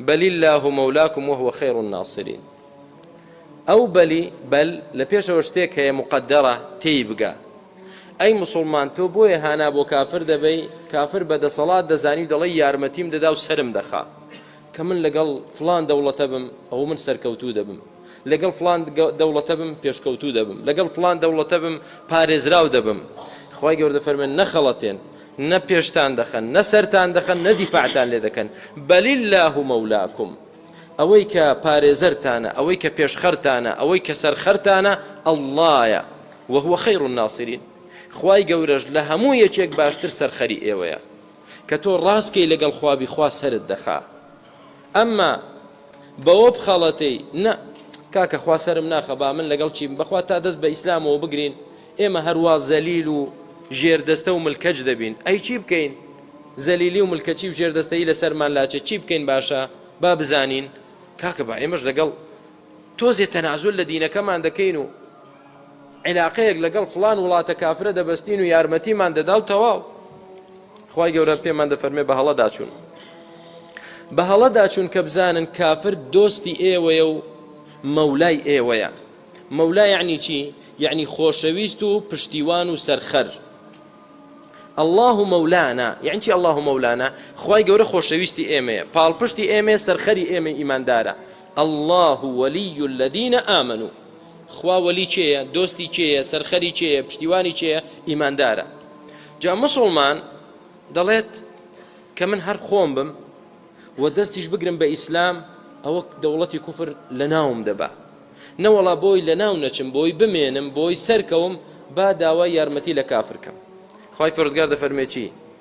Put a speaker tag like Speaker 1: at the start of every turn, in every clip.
Speaker 1: بل اللە مولاکم وهو خیر الناصرین ئەو بەلی بەل لە پێشەوە شتێک هەیە مقدرە تێی بگە ئەی مسلمان تۆ بۆیە هانا بۆ کافر دەبەی کافر بە دەسەڵات دەزانی و دەڵی یارمەتیم دەدا و سرم دەخا کە من لەگەڵ فلان دەوڵەتە بم ئەو من سەرکەوتوو دەبم لەگەڵ فڵان دەوڵەتە بم پێشکەوتوو دەبم، لەگەڵ فڵان دەوڵەتە بم پارێزراو دەبم. خوای گەورە دەفەرموێت، نەخەڵەتێن، نە پێشتان دەخەن، نە سەرتان دەخەن، نە دیفاعتان لێ دەکەن، بەل اللە مولاکم، ئەوەی کە پارێزەرتانە، ئەوەی کە پێشخەرتانە، ئەوەی کە سەرخەرتانە، اللەیە، و هو خیر الناصرین، خوای گەورەش لە هەموو یەکێک باشتر سەرخەری ئێوەیە. کە تۆ ڕاست کەی لەگەڵ خوا بی خوا سەرت دەخا. ئەمما بەوە بخەڵەتێی نا کاکە خوا سەرم ناخە با من لەگەڵ چیم بەخوا تا دەست بە ئیسلامەوە بگرین ئێمە هەروا زەلیل و ژێردەستە و ملکەچ دەبین ئەی چی بکەین زەلیلی و ملکەچی و ژێردەستەی لەسەرمان لاچێت چی بکەین باشە با بزانین کاکە با ئێمەش لەگەڵ تۆزێ تەنازول لە دینەکەمان دەکەین و عیلاقەیەک لەگەڵ فڵان وڵاتە کافرە دەبەستین و یارمەتیمان دەدا و تەواو خوای گەورە پێمان دەفەرمێ بە هەڵەدا چوون بە هەڵەدا چوون کە بزانن کافر دۆستی ئێوەیە و مەولای ئێوەیە مەولا یعنی چی یعنی خۆشەویست و پشتیوان و سەرخەر الله مەولانا یعنی چی الله مەولانا خوای گەورە خۆشەویستی ئێمەیە پاڵپشتی ئێمە سەرخەری ئێمە ئیماندارە اللە ولی الذین آمنو خوا وەلی کێیە دۆستی کێیە سەرخەری کێیە پشتیوانی کێیە ئیماندارە جا مسلمان دەڵێت کە من هەر خۆم بم و دەستیش بگرم بە ئیسلام ئەوە دەوڵەتی کوفر لە ناوم دەبا نەوەڵا بۆی لە ناو نەچم بۆی بمێنم بۆی سەرکەوم با داوا یارمەتی لە کافرکەم خی پرودگار دەفەرمێکی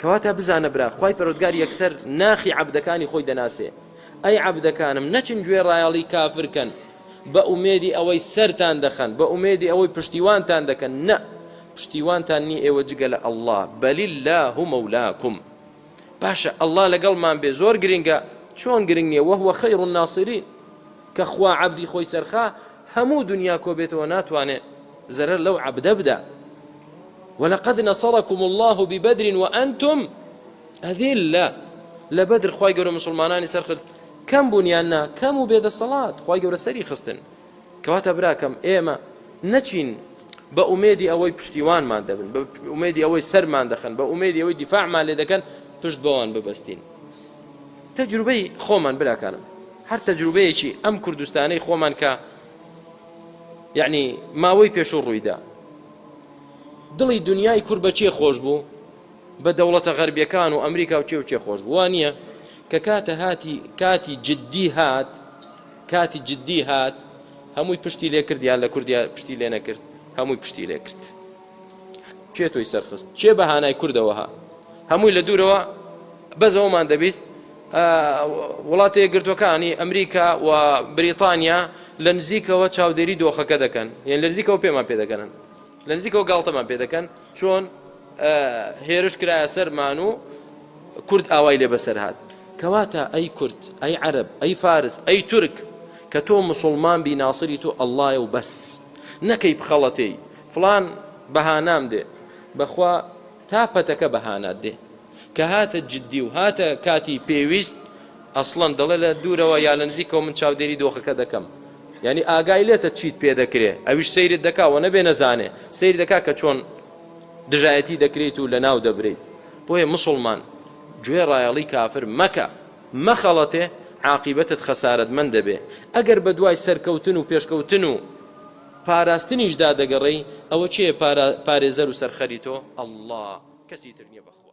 Speaker 1: کەواتە بزانە برا خوای پەرۆدگار یەکسەر ناخی عەبدەکانی خۆی دەناسێ ئەی عەبدەکانم نەچن گوێ ڕایەڵی کافر کەن بە ئومێدی ئەوەی سەرتان دەخەن بە ئومێدی ئەوەی پشتیوانتان دەکەن نە پشتیوانتان نی ئێوە جگە لە اللە بەلی اللە هو مولاکم باشە اللە لەگەڵمان بێ زۆر گرنگە چۆن گرنگ نیە وهو خیر الناصرین کە خوا عەبدی خۆی سەرخا هەموو دنیا کۆبێتەوە ناتوانێ زەرەر لەو عەبدە بدە ولقد نصرکم اللە ببدر وانتم اذلە لە بەدر خوای گەورە مسلمانانی سەرخرد کەم بوون یان نا کەم و بێدەسەڵات خوای گەورە سەری خستن کەواتە براکەم ئێمە نەچین بە ئومێدی ئەوەی پشتیوانمان دەبن بە ئومێدی ئەوەی سەرمان دەخن بە ئومێدی ئەوەی دیفاعمان لێ دەکەن پشت بەوان ببەستین تەجروبەی خۆمان براکانم هەر تەجروبەیەکی ئەم کوردستانەی خۆمان کە یعنی ماوەی پێشوو ڕوویدا دڵی دنیای کور بە کێ خۆش بوو بە دەوڵەتە غەربیەکان و ئەمریکا و کێ و کێ خۆش بوو وا نییە کە کاتە هاتی کاتی جددی هات کاتی جددی هات هەمووی پشتی لێ کرد یان لە کوردیا پشتی لێ نەکرد هەمووی پشتی لێ کرد کێ تۆی سەرخست کێ بەهانای کوردەوەها هەمووی لە دوورەوە بەزەوەمان دەبیست وڵاتە یەکگرتووەکانی ئەمریکا و بریتانیا لە نزیکەوە چاودێری دۆخەکە دەکەن یان لە نزیکەوە پێمان پێ دەگەنن لە نزیکەوە گاڵتەمان پێ دەکەن چۆن هێرش کرایە سەرمان و کورد ئاوای لێ بەسەر هاات کەواتە ئەی کورد ئەی عەرب ئەی فارس ئەی تورک کە تۆ مسلمان بی ناسری تۆ ئەللایە و بەس نەکەی بخەڵەتێی فلان بەهانام دێ بەخوا تا پەتەکە بە هانات دێ. کە هاتە جدی و هاتە کاتی پێویست، ئەسڵەن دەڵێ لە دوورەوە یا لە نزیکەوە من چاودێری دۆخەکە دەکەم. یانی ئاگای لێتە چیت پێ دەکرێ، ئەویش سەیرت دەکا و نەبێ نەزانێ، سەیر دەکا کە چۆن دژایەتی دەکرێیت و لە ناو دەبرێیت. بۆیە موسڵمان گوێ ڕایەڵی کافر مەکە، مەخەڵەتێ، عاقیبەتت خەسارەتمەند دەبێ. ئەگەر بە دوای سەرکەوتن و پێشکەوتن و. پاراستنیشدا دەگەڕێی ئەوە کێیە پارێزەر و سەرخەری تۆ؟ اللە کەسی تر نیە بەخوا.